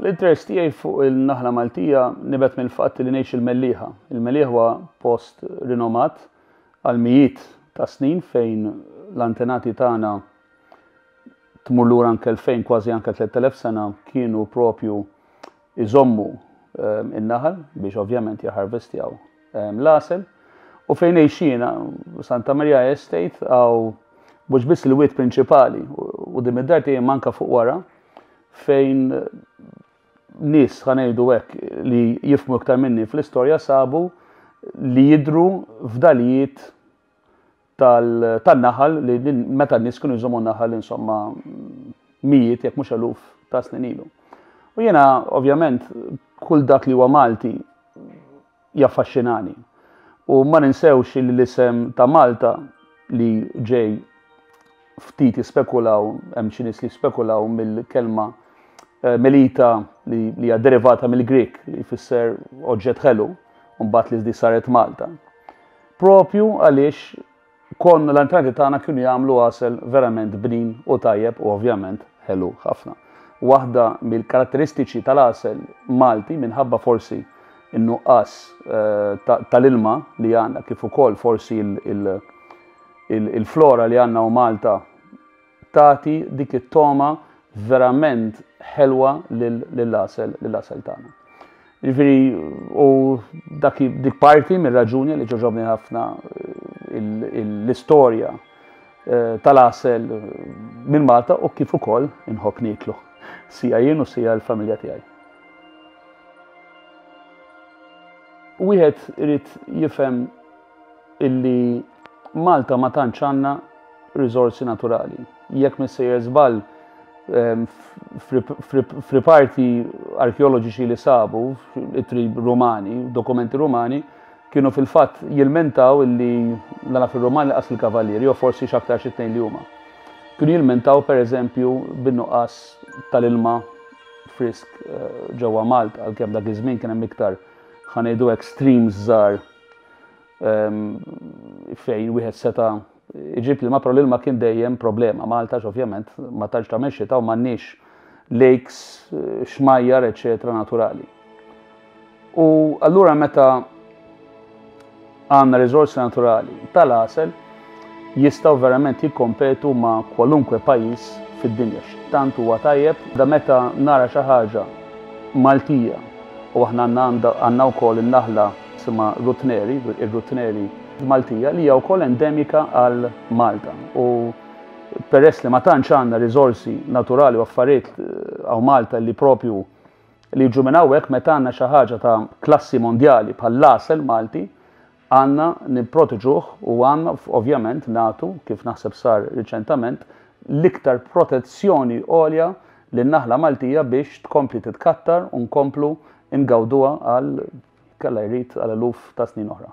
L-interess tiegħi fuq il-naħla Maltija nibet mill-fatt li ngħix il-Mellieħa. Il-Mellieħa huwa post rinomat għal mijiet ta' snin fejn l-antenati tagħna tmur lura anke fejn kważi anke 3000 sena kienu propju iżommu n-naħal biex ovvjament jaħarvestjaw l-għasel u fejn għejxina Santa Maria Estate għaw mhux biss il-wiet prinċipali u dim id-dar tiegħi manka fuq wara fejn nies ħanejdu hekk li jifmu iktar minni fl-istorja sabu li jidru f'dalijiet tan-naħal li meta n-nies kienu jżommu naħal insomma mijiet jekk mhux eluf ta' snin ilu. U jiena ovvjament kull dak li huwa Malti jaffaxxinani. U ma ninsewx li l-isem ta' Malta li ġej ftit jispekulaw, hemm xi nies li jispekulaw mill-kelma eh, melita li hija derivata mill-Grik li jfisser oġġett ħelu, mbagħad li di saret Malta. Proprju għaliex konna l-antenati tagħna kienu jagħmlu għasel verament bnin u tajjeb u ovvjament ħelu ħafna. Waħda mill-karatteristiċi tal-għasel Malti minħabba forsi n-nuqqas eh, tal-ilma li għandna kif ukoll forsi il-flora li għandna u Malta Tagħti dik it-togħma verament ħelwa lill-għasel, lill-għasel tagħna. Jiġifieri u dak dik parti mir-raġuni li ġoġobni ħafna eh, l-istorja eh, tal-għasel eh, minn Malta u kif ukoll inħobb niklu. Sija jien u sija l-familja tiegħi. Wieħed irid jifhem illi Malta ma tantx għandna riżorsi naturali. Jekk missejjer żball ehm, f'riparti arkeoloġiċi li sabu, itri rumani, dokumenti rumani, kienu fil-fatt jilmentaw illi dana fil-Roman laqas il-Kavalieri, jew forsi xaktar xittejn li huma. Kienu jilmentaw per eżempju bin-nuqqas tal-ilma frisk eh, ġewwa Malta, għalkemm dak iż-żmien kien hemm iktar ħanejdu hekk streams żgħar fejn wieħed seta' iġib l-ilma, però l-ilma kien dejjem problema. Malta ovvjament ma tantx ta' mexxita u m'għandniex lakes, xmajjar, eċetera naturali. U allura meta għandna riżorsi naturali tal-għasel, jistgħu verament jikkompetu ma' kwalunkwe pajjiż fid-dinja. X'tant huwa tajjeb da meta nara xi ħaġa Maltija u aħna għandna għandna wkoll in-naħla jisimha Rutneri, ir-Rutneri Maltija li hija wkoll endemika għal Malta u peress li ma tantx għandna riżorsi naturali u affarijiet hawn Malta li propju li jiġu minn hawnhekk meta għandna xi ħaġa ta' klassi mondjali bħall-għasel Malti Għandna nipproteġuh u għandna ovvjament nagħtu, kif naħseb sar riċentament, l-iktar protezzjoni għolja lin-naħla Maltija biex tkompli titkattar u nkomplu ngawduha għal, jekk Alla jrid, għal eluf ta' snin oħra.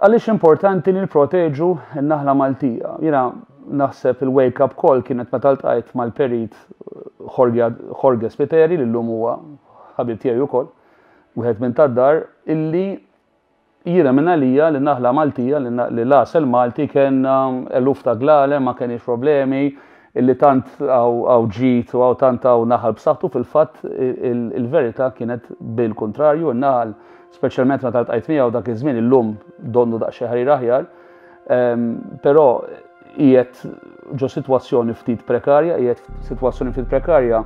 Għaliex importanti li nipproteġu n-naħla Maltija? Jiena naħseb il-wake up call kienet meta ltqajt mal-perit Jorge Spiteri li llum huwa ħabib tiegħi wkoll, wieħed minn tad-dar, illi jiena minn għalija li naħla Maltija li l-għasel Malti kellna eluf ta' glale, ma kenix problemi, illi tant hawn ġid u hawn tant hawn naħal b'saħħtu fil-fatt il-verità kienet bil-kuntrarju, in-naħal speċjalment meta ltqajt miegħu dak iż-żmien illum donnu daqsxejn ħarir aħjar, ehm, però qiegħed ġo sitwazzjoni ftit prekarja, qiegħed sitwazzjoni ftit prekarja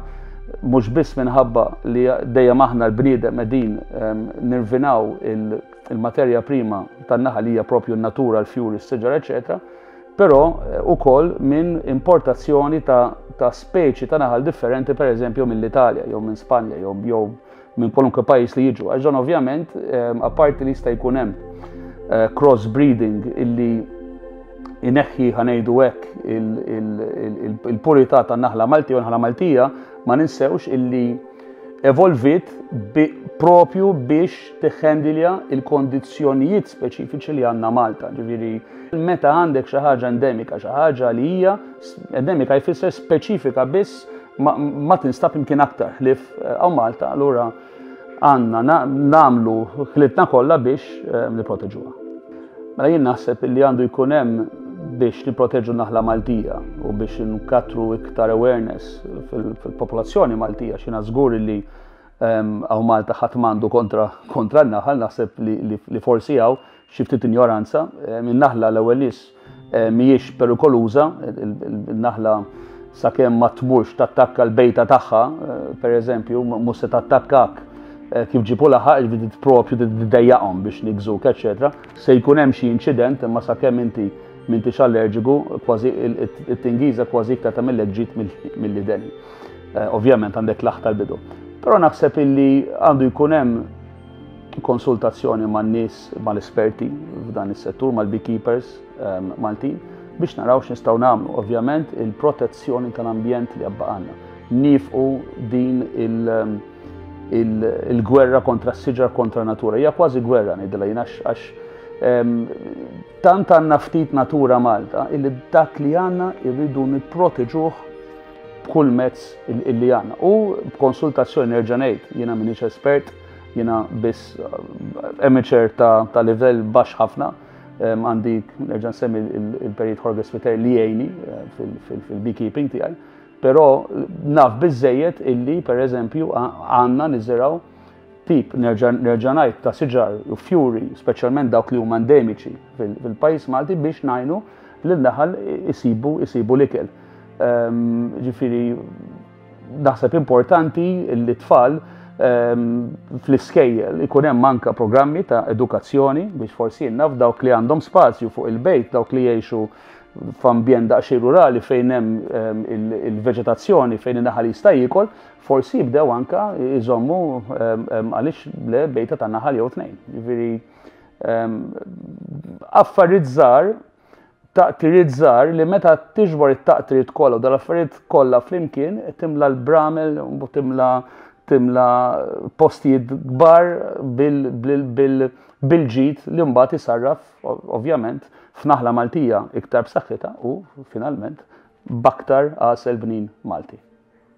mhux biss minħabba li dejjem aħna l-bniedem qegħdin ehm, nirvinaw il-materja prima tan-naħal hija propju n-natura, l-fjuri, s-siġar, eċċetera però wkoll minn importazzjoni ta' ta' speċi ta' naħal differenti pereżempju mill-Italja jew minn Spanja jew jew minn kwalunkwe pajjiż li jiġu. Għax dan ovvjament ehm, apparti li jista' jkun hemm eh, cross breeding illi ineħħi ħanejdu hekk il-purità tan-naħla Malti u naħla Maltija ma ninsewx illi evolviet bi, propju biex tiħħendilja il-kondizzjonijiet speċifiċi li għandna Malta. Ġifieri meta għandek xi ħaġa endemika, xi ħaġa li hija endemika jfisser speċifika biss ma, ma tinstab imkien aktar ħlif eh, għaw Malta, allura għandna nagħmlu ħlitna kollha biex eh, nipproteġuha. Mela jien naħseb illi għandu jkun hemm biex nipproteġu naħla Maltija u biex nkattru iktar awareness fil-popolazzjoni Maltija xina żgur illi ehm, għaw Malta ħadd m'għandu kontra kontra n-naħal naħseb li forsi għaw xi ftit injoranza ehm, in-naħla l-ewwel nies Eh, mhijiex perikoluża, il-naħla sakemm ma tmurx tattakka l-bejta tagħha, eh, pereżempju, mhux se tattakkak eh, kif ġipu laħaq, ġbidi propju d-dejjaqom biex nigżuk, eċetera. Se jkun hemm xi inċident, imma sakemm inti minti allerġiku, kważi it-tingiza kważi iktar ta' mill ġit mill-lideni. Ovvjament għandek laħta l-bidu. Però naħseb illi għandu jkun hemm konsultazzjoni man nies mal-esperti f'dan is-settur mal-beekeepers ehm, Maltin biex naraw x'nistgħu nagħmlu. Ovvjament il-protezzjoni tal-ambjent li għabba għandna. Nifqu din il- ehm, il-gwerra kontra s-siġar kontra natura. Hija kważi gwerra ngħidilha jien għax ehm, tant għandna ftit natura Malta illi dak li għandna irridu nipproteġuh b'kull mezz illi għandna. U b'konsultazzjoni nerġa' ngħid, jiena m'iniex espert, jiena biss eh, amateur ta', ta livell baxx ħafna, għandi nerġa' nsemmi il-perit Jorge Sviter li jgħini eh, fil-beekeeping tiegħi, però naf biżejjed illi pereżempju għandna niżeraw tip, nerġa' ngħid, ta' siġar u fjuri, speċjalment dawk li huma endemiċi fil-pajjiż Malti biex ngħinu lil naħal isibu isibu l-ikel. Ehm, ġifieri naħseb importanti li tfal ehm, fl-iskejjel ikun hemm anka programmi ta' edukazzjoni biex forsi jinnaf dawk li għandhom spazju fuq il-bejt, dawk li jgħixu f'ambjent daqsxejn rurali fejn hemm ehm, il-veġetazzjoni fejn in-naħal jista' jiekol, Forsi jibdew anka jżommu għaliex le bejta ta' naħal jew tnejn. Jiġifieri affarijiet żgħar, taqtiriet żgħar li meta tiġbor it-taqtiriet kollha u dal-affarijiet kollha flimkien timla l-bramel u timla timla postijiet kbar bil-ġid li mbagħad isarraf ovvjament f'naħla Maltija iktar b'saħħitha u finalment b'aktar għasel bnin Malti.